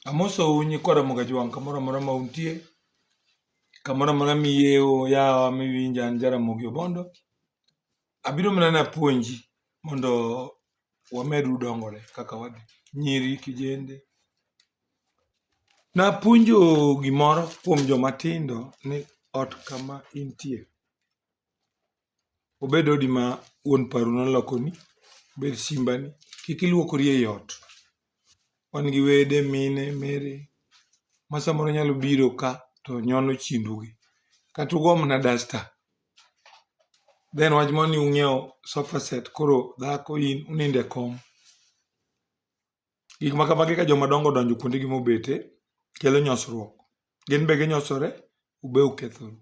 Amosou nyikwa Ramoga Jwang' kamoro amora ma untie, kamoro amora miyeo yawa miwinja an Jaramogi Obondo. Abiro mana napuonji mondo wamedu dongore kaka wadhi, nyiri, kijende. Napuonjo gimoro kuom joma tindo ni ot kama intie, obed odi ma wuon paru nolokoni, obed simbani, kik iluokori ei ot. Wan gi wede, mine, mere ma samoro nyalo biro ka to nyono chindogi. Kata ugo mana dasta. Then wach moro ni ung'iewo sofa set koro dhako in unindo e kom. Gik ma kamagi ka joma dongo odonjo kuondegi mobete, kelo nyosruok. Gin be ginyosore, un be ukethoru.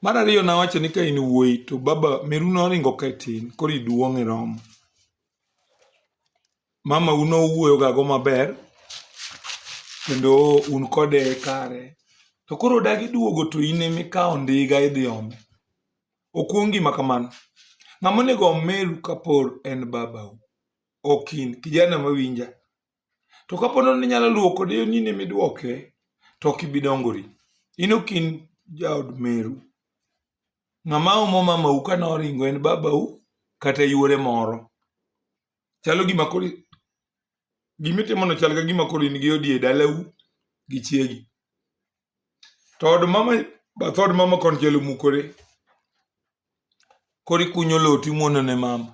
Mar ariyo nawacho ni ka in wuoyi to baba meru noringo ka tin koro iduong' iromo. Mama u nowuoyo ga go maber kendo un kode e kare. To koro odagi duogo to in emikawo ndiga idhi ome. Ok un gima kamano. Ng'ama onego om meru kapor en babau. Ok in. Kijana mawinja. to kapo nono ni inyalo luwo kode yo nini midwoke to ok ibi dongori in ok in jaod meru ng'ama omo mamau ka noringo en babau kata yuore moro chalo gima koro gimitimono chal ka gima koro in gi odi e dalau gi chiegi to od mama bath od mama konchiel omukore koro ikunyo lowo timwono ne mama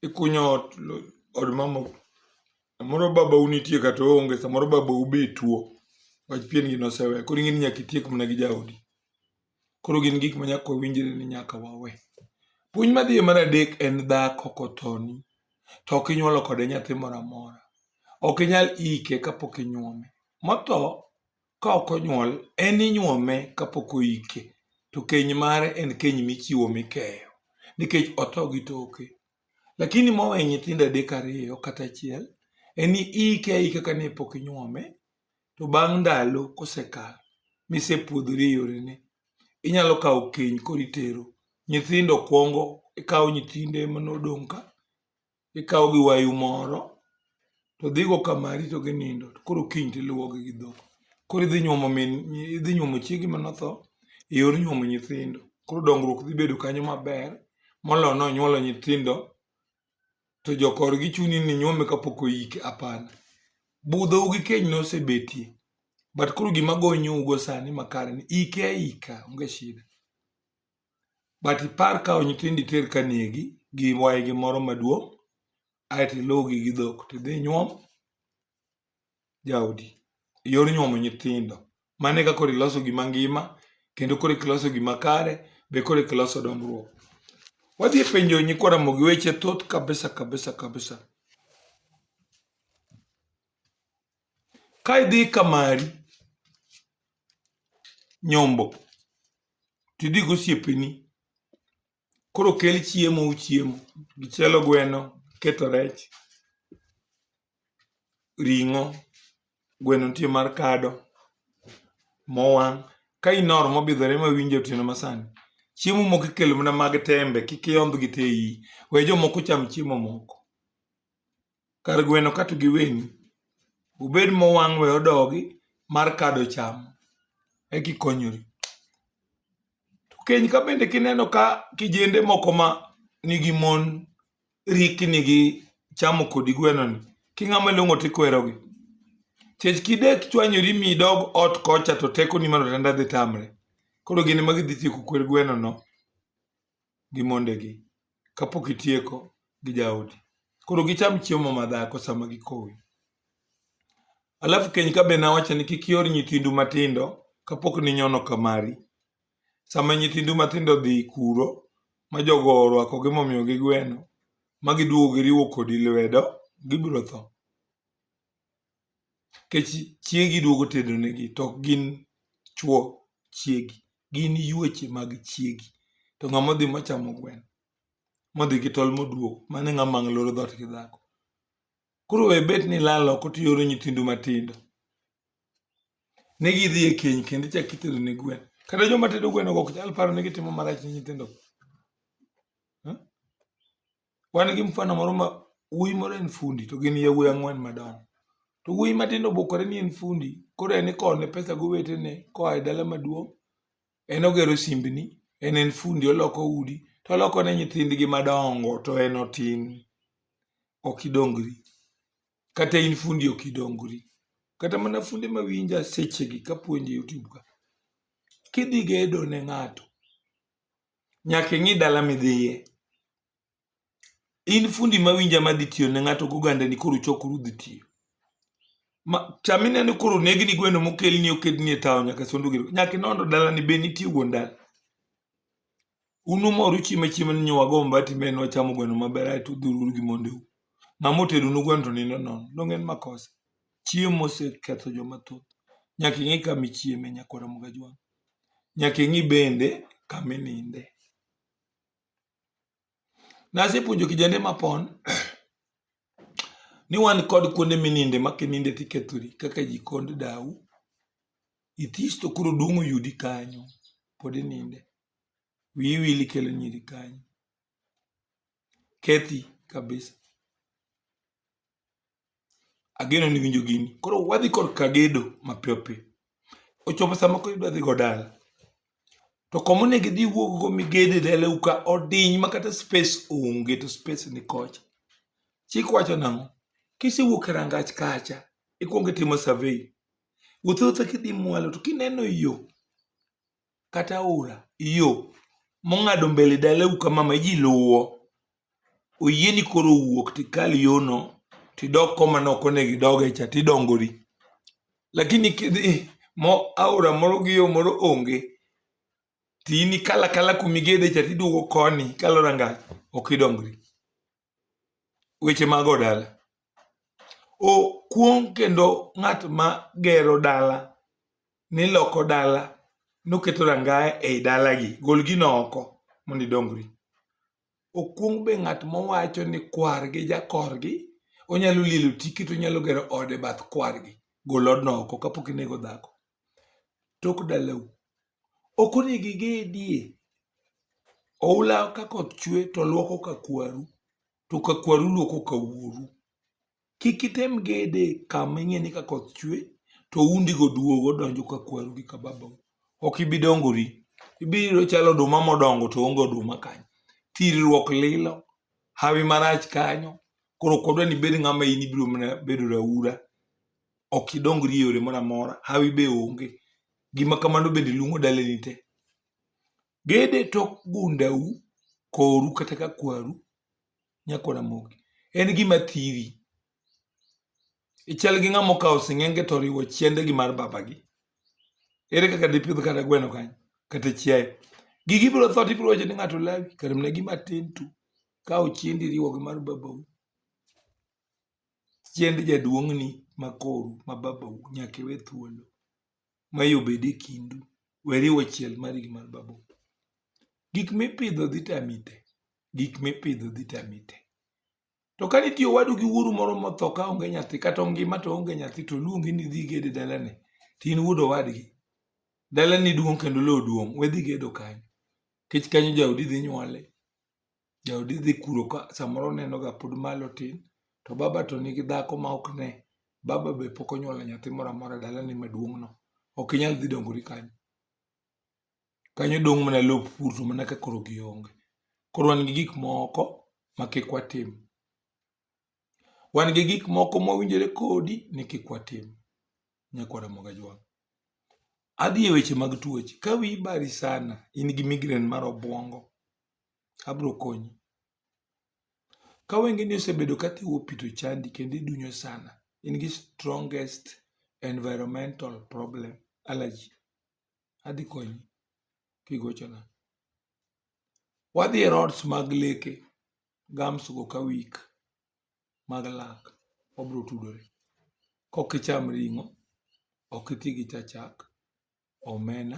ikunyo ot od mama samoro babau nitie kata oonge samoro babau be tuo wach pien gi nosewe koro ing'e ni nyaka itiek mana gi jaodi koro gin gik ma nyaka wawinjre ni nyaka wawe puonj madhiye mar adek en dhako kothoni to ok inyuolo kode nyathi moro amora ok inyal ike kapok inyuome motho ka ok onyuol en inyuome kapok oike to keny mare en keny michiwo mikeyo nikech otho gi toke. Lakini mowe nyithindo adek ariyo kata achiel en iike aika kane pok inyuome to bang' ndalo kosekalo misepuodhori e yorene inyalo kawo keny koro itero. Nyithindo kwongo ikawo nyithinde manodong' ka Ikawo gi wayu moro to dhigo kamari to ginindo to koro kiny to iluwogi gi dhok. Koro idhi nyuomo min idhi nyuomo chiegi mane otho e yor nyuomo nyithindo. Koro dongruok dhi bedo kanyo maber moloyo ni onyuolo nyithindo to jokorgi chuni ni nyuome kapok oike hapana. Budhou gi keny nosebetie but koro gima gonyou go sani makare ni ike aika onge shida. but ipar kawo nyithindo iter ka negi gi waygi moro maduong' aeto iluwgi gi dhok tidhi nyuom jaodi yor nyuomo nyithindo mano e kaka koro iloso gima ngima kendo koro iloso gima kare be koro iloso dongruok wadhi e penjo nyikwa ramogi weche thoth kabisa kabisa kabisa ka idhi ka mari nyombo to idhi gi osiepeni koro kel chiemo uchiem, ichielo gweno, iketo rech, ring'o, gweno nitie mar kado, mowang'. Ka in or mobidhore ma winjo otieno ma sani, chiemo moko ikelo mana mag tembe kik iondh gi te iyi. We jomoko ocham chiemo moko. kar gweno katu giweni obed mowang' we odogi mar kado cham eki konyori to keny ka bende kineno ka kijende moko ma nigi mon rikni gi chamo kodi gwenoni king'ama long'o tikwerogi chech kidek chwanyori mi idog ot kocha to tekoni mar otanda dhi tamre koro gin ema gidhi tieko kwer gwenono gi mondegi kapok itieko gi jaodi. Koro gicham chiemo ma dhako sama gikowi. Alafu keny ka be nawacho ni kik ior nyithindu matindo kapok ninyono ka mari. Sama nyithindu matindo dhi kuro ma jogo orwakogi momiyogi gweno ma giduogo giriwo kodi lwedo, gibiro tho. Nikech chiegi iduogo tedonegi to ok gin chwo chiegi, gin yueche mag chiegi. To ng'ama odhi mochamo gweno modhi gi tol moduogo, mano e ng'ama ang' loro dhoot gi dhako. Koro we bet ni ilal oko to ioro nyithindu matindo ni gidhi e keny kendo ichako itedo ne gweno. Kata joma tedo gwenogo ok nyal paro ni gitimo marach ne nyithindogo. Wan gi mfano moro ma wuoyi moro en fundi to gin yawuoyi ang'wen madongo. To wuoyi matin obokore ni en fundi, koro en ikowo ne pesa gi owetene koa e dala maduong'. En ogero simbni, en en fundi oloko udi, to oloko ne nyithindgi madongo to en otin. Ok idongri. Kata in fundi ok idongri. Kata mana funde ma winja sechegi kapuonjo e Youtube ka, kidhi gedo ne ng'ato, nyaka ing'i dala midhiye. In fundi mawinja madhi tiyo ne ng'ato gogandani koro chokuru dhi tiyo. Ma, chamine ni koro negni gweno mokelni okedni e tawo nyaka sondo gero. Nyaka inondo dalani be nitie wuon dala. Unumor uchieme chiemo ni nyowa go mbati me nwa chamo gweno maber aeto udhururu gi mondeu. Ng'ama otedo nu gweno to nindo nono. Donge en makosa? Chiemo oseketho joma thoth. Nyaka ing'e kama ichieme nyakwara Mugajwang'. nyaka ing'i bende kama ininde. Nasepuonjo kijende mapon ni wan kod kuonde mininde ma kininde tikethori kaka jikond dau, ithis to koro duong' oyudi kanyo pod ininde. Wiyi wil ikelo nyiri kanyo, kethi kabisa. Ageno ni iwinjo gini. Koro wadhi korka gedo mapiyo piyo. Ochopo sama koro idwa dhi go dala. To koma onego idhi iwuog go miged e dalau ka odiny ma kata space onge to space ni kocha. Chik wacho nang'o? Kisewuok e rangach kacha, ikwongo itimo survey. Wuoth awuotha kidhi mwalo to kineno yo kata aora yo mong'ado mbele dalau kama ma ji luwo oyieni koro wuok tikal yono tidok koma ne ok onego idoge cha tidongori lakini kidhi mo aora moro gi yo moro onge tini kala kala kumigede cha tiduogo koni kalo rangach ok idongri weche mago dala okuong kendo ng'at ma gero dala niloko dala noketo rangaya ei dalagi gol gino oko mondo idongri okuong be ng'at mowacho ni kwargi jakorgi onyalo lielo tiki to onyalo gero ode bath kwargi gol odno oko kapok inego dhako tok dalau ok onego igedie oula ka koth chwe to luoko ka kwaru to ka kwaru luoko ka wuoru kik item gede kama ing'e ni ka koth chwe to oundi go duogo donjo ka kwaru gi ka babau ok ibi dongori ibiro chalo oduma modongo to onge oduma kanyo thirruok lilo hawi marach kanyo koro kodwa ni bed ng'ama in ibiro mana bedo raura ok idongri e yore moro amora hawi be onge Gima kamano bende luong'o daleni te. Gede tok gundau, koru kata ka kwaru, nyako Ramogi. En gima thiri. Ichal gi ng'ama okawo sing'enge to oriwo chiende gi mar babagi. Ere kaka dipidh kata gweno kanyo, kata chiaye. Gigi ibiro tho to ibiro wacho ni ng'ato lawi, kare mana gima tin tu. Kawo chiendi iriwo gi mar babau. chiend jaduong'ni ma koru ma babau nyaka iwe thuolo ma yo bed e kindu, we riwo chiel mari gi mar babau. Gik mipidho dhi tami te, gik mipidho dhi tami te. To ka nitie owadu gi wuoru moro motho ka onge nyathi kata ongima to onge nyathi to oluongi ni idhi igede dalane to in wuod owadgi, dalani duong' kendo lowo duong', we dhi gedo kanyo nikech kanyo jaodi dhi nyuole. Jaodi dhi kuro ka samoro onenoga pod malo tin, to baba to nigi dhako ma ok ne. Baba be pok onyuolo nyathi moro amora e dalani maduong'no. Ok inyal dhi dongori kanyo. Kanyo dong' mana lop pur to mana ka koro gionge. Koro wan gi gik moko ma kik watim. Wan gi gik moko mowinjore kodi ni kik watim. Nyako Ramogi Ajwang'. Adhi e weche mag tuoche. Ka wiyi bari sana, in gi migraine mar obwongo, abiro konyi. Ka wengeni osebedo ka thiwo pi to chandi kendo idunyo sana, in gi strongest environmental problem, allergy, adhi konyi kigochona. Wadhi e rods mag leke, gums go ka weak mag lak, wabiro tudore. Kok icham ring'o, ok iti gi cha chak. omena.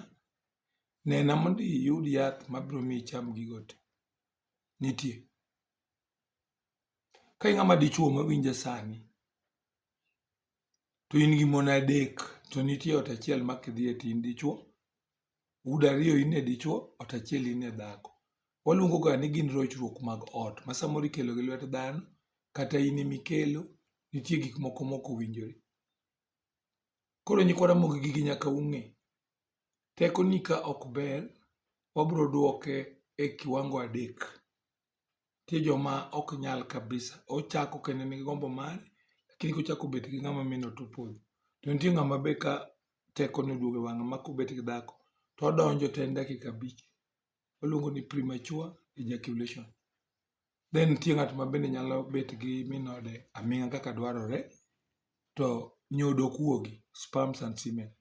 Nena mondo iyud yath mabiro miyo icham gigo te. Nitie? Ka in ng'ama dichuo mawinja sani, to in gi mon adek, to nitie ot achiel ma kidhiye to in dichuo, udo ariyo in e dichuo, ot achiel in e dhako. Waluongoga ni gin rochruok mag ot ma samoro ikelo gi lwet dhano, kata in ema ikelo, nitie gik moko mok owinjore. Koro nyikwa Ramogi gigi nyaka ung'e. Teko ni ka ok ber, wabro dwoke e kiwango adek. Nitie joma ok nyal kabisa. Ochako kendo en gi gombo mare, lakini kochako bet gi ng'ama mino to opodho. To nitie ng'ama be ka teko ne oduogo e wang'e ma kobet gi dhako, to odonjo to en dakika abich. Waluongo ni premature ejaculation. Be nitie ng'at ma bende nyalo bet gi min ode aming'a kaka dwarore to nyodo ok wuogi, sperms and semen?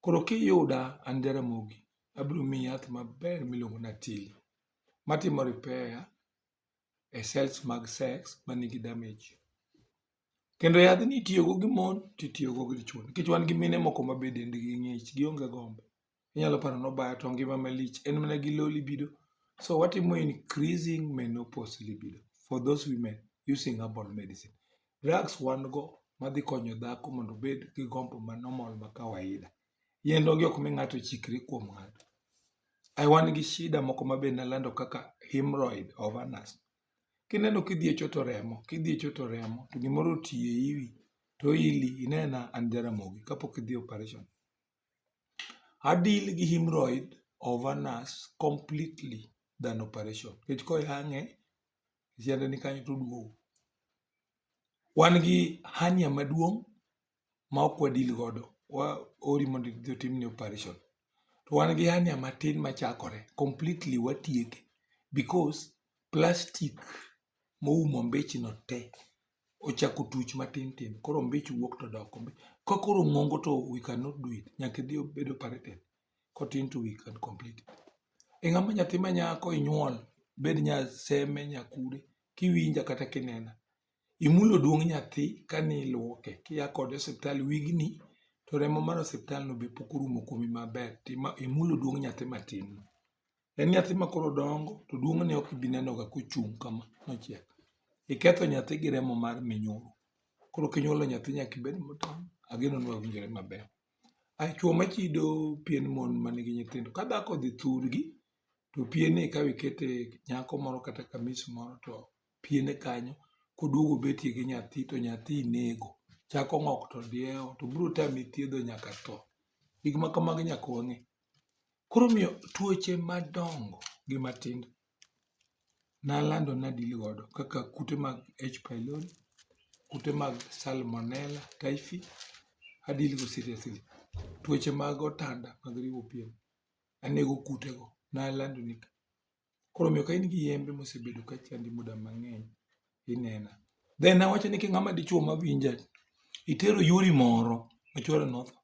Koro kiyuda an Jaramogi abiro miyi yath maber miluongo ni Atili matimo repair e cells mag sex manigi damage. Kendo yadhni itiyogo gi mon to itiyogo gi dichwo nikech wan gi mine moko ma be dendgi ng'ich gionge gombo. inyalo paro ni obaya to ngima malich en mana gi low libido. So watimo increasing menopause libido for those women using herbal medicine. Drugs wan go madhi konyo dhako mondo obed gi gombo ma normal ma kawaida. Yien onge ok mi ng'ato chikre kuom ng'ato. Ai wan gi shida moko ma be nalando kaka hemorrhoid, ovanas. Kineno kidhi e choto remo, kidhi e choto remo to gimoro oti e iwi to ili inena an Jaramogi kapok idhi e operation. Adil gi hemorrhoid over nurse completely than operation nikech koyang'e e sianda ni kanyo toduogo. Wan gi hernia maduong' ma ok wa deal godo, waori mondo idhi otimni operation. To wan gi hernia matin machakore, completely watieke because plastic moumo mbichno te ochako tuch matin tin koro ombich wuok to dok ka koro ong'ongo to we cannot do it nyaka idhi obed operated kotin to we can complete it e ng'ama nyathi ma nyako inyuol bed nya seme nya kude kiwinja kata kinena imulo duong' nyathi kani iluoke kia kode e osiptal wigni to remo mar osiptal no be pok orumo kuomi maber imulo duong' nyathi matin no En nyathi ma koro dongo to duong'ne ok ibi nenoga kochung' kama nochiek. Iketho nyathi gi remo mar minyulu. Koro kinyuolo nyathi nyaka ibed motang'. Ageno ni wawinjore maber. Ae chwo machido pien mon ma nigi nyithindo, ka dhako odhi thurgi to piene ikawo ikete nyako moro kata kamis moro to piene kanyo koduogo obetie gi nyathi to nyathi inego. Chak ong'ok to diewo to biro tami thiedho nyaka tho. Gik ma kamago nyaka wang'e. Koro omiyo tuoche madongo gi matindo nalando ni adil godo kaka kute mag H pylori, kute mag salmonella typhi, adil go seriously. Tuoche mag otanda mag riwo pien, anego kutego, nalando ni ka. Koro omiyo ka in gi yembe mosebedo ka chandi muda mang'eny, inena. Then awacho ni king'ama dichwo mawinja, itero yuori moro ma chwore notho.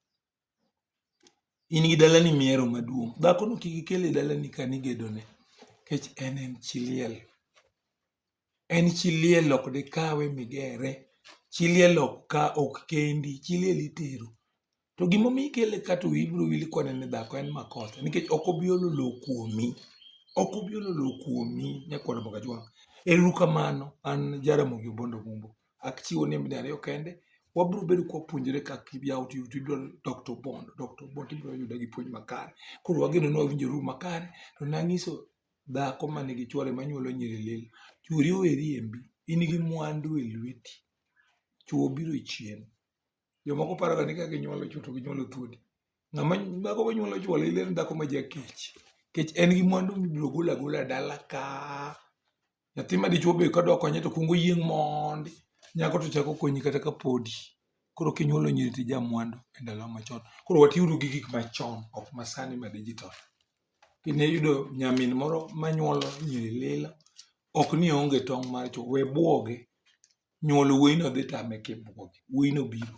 In gi dalani mihero maduong'. Dhakono kik ikel e dalani ka an igedone nikech en en chi liel. En chi liel ok dikawe migere. Chi liel ok kendi, chi liel itero. To gimomiyo ikele ka to wiyi biro wil kode ni dhako en makosa nikech ok obi olo lowo kuomi. Ok obi olo lowo kuomi nyakwar Mpakachwang'. Ero uru kamano. An Jaramogi Obondo Ombumbo. Achiwo nembni ariyo kende. Wabiro bedo ka wapuonjore kaka iyawo to ibiro Dr. Bond. Dr. Bond ibiro yude gi puonj makare. Koro wageno ni wawinjo ru makare. To nanyiso dhako ma nigi chwore ma nyuolo nyiri lilo. Chwori owe riembi. In gi mwandu e lweti. Chwo biro chien. Jomoko paroga ni ka ginyuolo chwo to ginyuolo thuol. Ng'ama dhako ma nyuolo chwo lilo en dhako ma jakech. Nikech en gi mwandu mibiro golo agola dala ka. Nyathi ma dichwo be kadwa konye to kwongo yieng' mondi, nyako to chako konyi kata ka podi. Koro kinyuolo nyiri to ija mwandu e ndalo machon. Koro watiuru gi gik machon ok ma sani ma digital. Kine yudo nyamin moro ma nyuolo nyiri lilo, ok ni oonge tong' mar chwo, we bwoge. Nyuolo wuoyino dhi tame kibwoge, wuoyino biro.